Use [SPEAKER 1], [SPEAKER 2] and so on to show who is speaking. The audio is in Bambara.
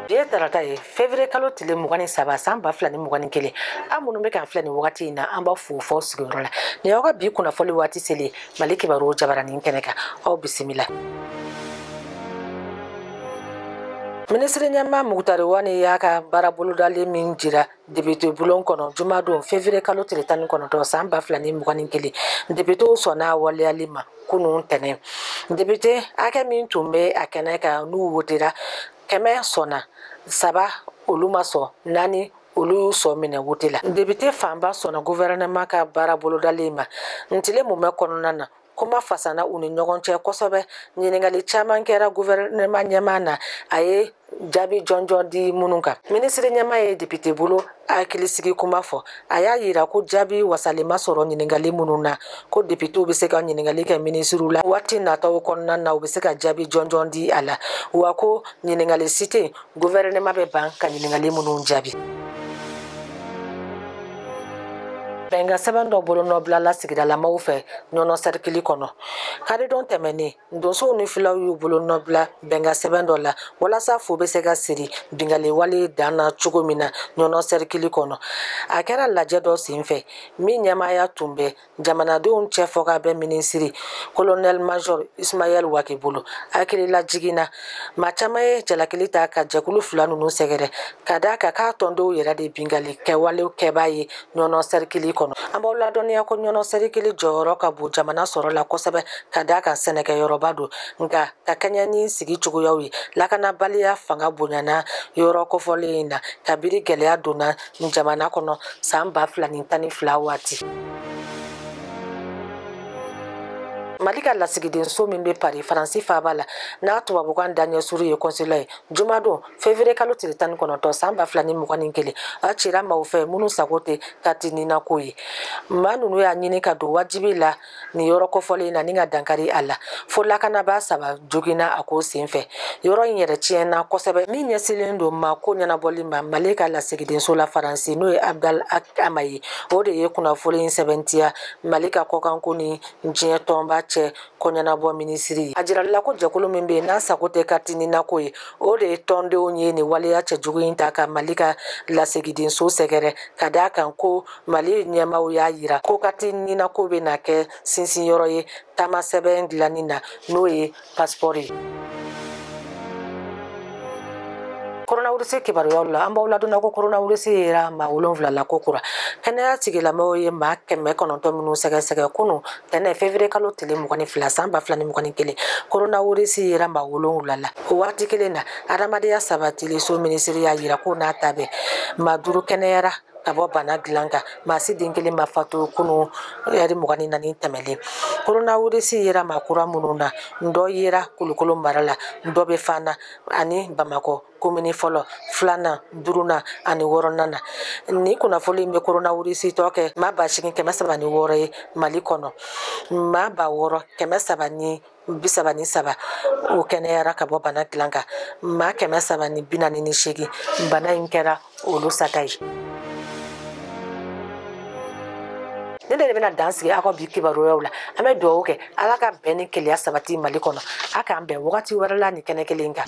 [SPEAKER 1] bi ye tarata ye fevrier kalo tile mugan ni saba san ba fila ni mugan ni kelen aw minnu bɛ k'an filɛ nin wagati in na an b'aw fo f'aw sigiyɔrɔ la nin y'aw ka bi kunnafoli waati selen ye mali kibaru jabaranin kɛnɛ kan aw bisimila minisiri ɲɛmaa mugutari wani y'a ka baarabolodalen min jira depite bulon kɔnɔ juma don fevrier kalo tile tan ni kɔnɔntɔn san ba fila ni mugan ni kelen depitew sɔnna a waleyali ma kunun tɛnɛn depite hakɛ min tun bɛ a kɛnɛ kan n'u wotera kɛmɛ sɔnna saba olu ma sɔn naani olu y'u sɔn minɛ wote la depite fanba sɔnna guvɛrɛnɛman ka baara bolodalen ma ntile mumɛ kɔnɔna na kuma fasana u ni ɲɔgɔn cɛ kosɛbɛ ɲininkali caman kɛra guvɛrɛnɛma ɲɛmaa na a ye jaabi jɔnjɔn di minnu kan minisiri ɲɛmaa ye depite bulon hakilisigi kuma fɔ a y'a yira ko jaabi wasalen ma sɔrɔ ɲininkali minnu na ko depitew bɛ se ka ɲininkali kɛ minisiriw la waati nataw kɔnɔna na u bɛ se ka jaabi jɔnjɔn di a la wa ko ɲininkali si tɛ guvɛrɛnɛma bɛ ban ka ɲininkali minnu jaabi bɛnkan sɛbɛn dɔ bolonɔbilala sigidalamaw fɛ ɲɔnɔ sɛrikili kɔnɔ karidon tɛmɛnnen donsow ni filaw y'u bolonɔbila bɛnkan sɛbɛn dɔ la walasa fu bɛ se ka siri binkanni wale dan na cogo min na ɲɔnɔ sɛrikili kɔnɔ a kɛra lajɛ dɔ sen fɛ min ɲɛmaaya tun bɛ jamanadenw cɛ fɔ ka bɛn minisiri kolonɛli major ismayɛl wage bolo hakililajigin na maa caman ye jalakili ta ka jɛkulu fila ninnu sɛgɛrɛ ka d'a kan k'a tɔndenw yɛrɛ de binkanni kɛwalew kɛbaa ye ɲɔnɔ sɛrikili kɔnɔ an b'aw ladɔnniya ko ɲɔnɔ sɛrikili jɔyɔrɔ ka bon jamana sɔrɔ la kosɛbɛ ka d'a kan sɛnɛkɛyɔrɔba don nka ka kɛɲɛ ni sigi cogoyaw ye lakanabaliya fanga bonyana yɔrɔ kofɔlen in na kabiri gɛlɛya donna jamana kɔnɔ san ba fila ni tan ni fila waati mali ka lasigidenso min bɛ pari faransi faaba la n'a tubabukan daɲɛ surun ye kɔnsila ye jumadon fevriye kalo tile tan ni kɔnɔntɔn san ba fila ni mugan ni kelen a cira maaw fɛ minnu sago tɛ kariti nina ko ye maa ninnu y'a ɲini ka don wajibi la nin yɔrɔ kofɔlen in na ni ka dankari a la fo lakanabaa saba joginna a ko senfɛ yɔrɔ in yɛrɛ tiɲɛna kosɛbɛ min ɲɛsilen don mako ɲɛnabɔli ma mali ka lasigidenso la faransi n'o ye abdala ag ama ye o de ye kunnafoli in sɛbɛntiya mali ka kɔkanko ni diɲɛ tɔnba cɛ koɲɛnabɔ minisiri ye a jirali la ko jɛkulu min bɛ yen n'a sago tɛ kariti nina ko ye o de ye tɔndenw ye nin waleya cɛjugu in ta ka mali ka lasigidenso sɛgɛrɛ ka d'a kan ko mali ɲɛmaw y'a yira ko kati ninako bɛna kɛ sinsin yɔrɔ ye taama sɛbɛn dilanni na n'o ye pasipɔri ye koronawirisi kibaruyaw la an b'aw ladonna ko koronawirisi yera maa wolonfila la ko kura kɛnɛya tigilamɔgɔw ye maa kɛmɛ kɔnɔntɔn minnu sɛgɛsɛgɛ kunu tɛnɛ fevriye kalo tile mugan ni fila san ba fila ni mugan ni kelen koronawirisi yera maa wolonwula la o wagati kelen na adamadenya sabatili so minisiri y'a yira ko n'a ta bɛ maa duuru kɛnɛyara ka bɔ bana dilan kan maa si den kelen ma fatu kunu ɛri mugan ni naani tɛmɛlen koronawirisi yera maa kura minnu na n dɔ yera kulukɔrɔ mara la n dɔ bɛ fana ani bamakɔ komini fɔlɔ filanan duurunan ani wɔɔrɔnan na ni kunnafoni in bɛ koronawirisitɔ kɛ maa ba seegin kɛmɛ saba ni wɔɔrɔ ye mali kɔnɔ maa ba wɔɔrɔ kɛmɛ saba ni bi saba ni saba o kɛnɛyara ka bɔ bana dilan kan maa kɛmɛ saba ni bi naani ni seegin bana in kɛra olu sata ye ne de bɛna dan sigi aw ka bi kibaruyaw la an bɛ dugawu kɛ ala ka bɛn ni kelenya sabati mali kɔnɔ a k'an bɛn wagati wɛrɛ la nin kɛnɛ kelen kan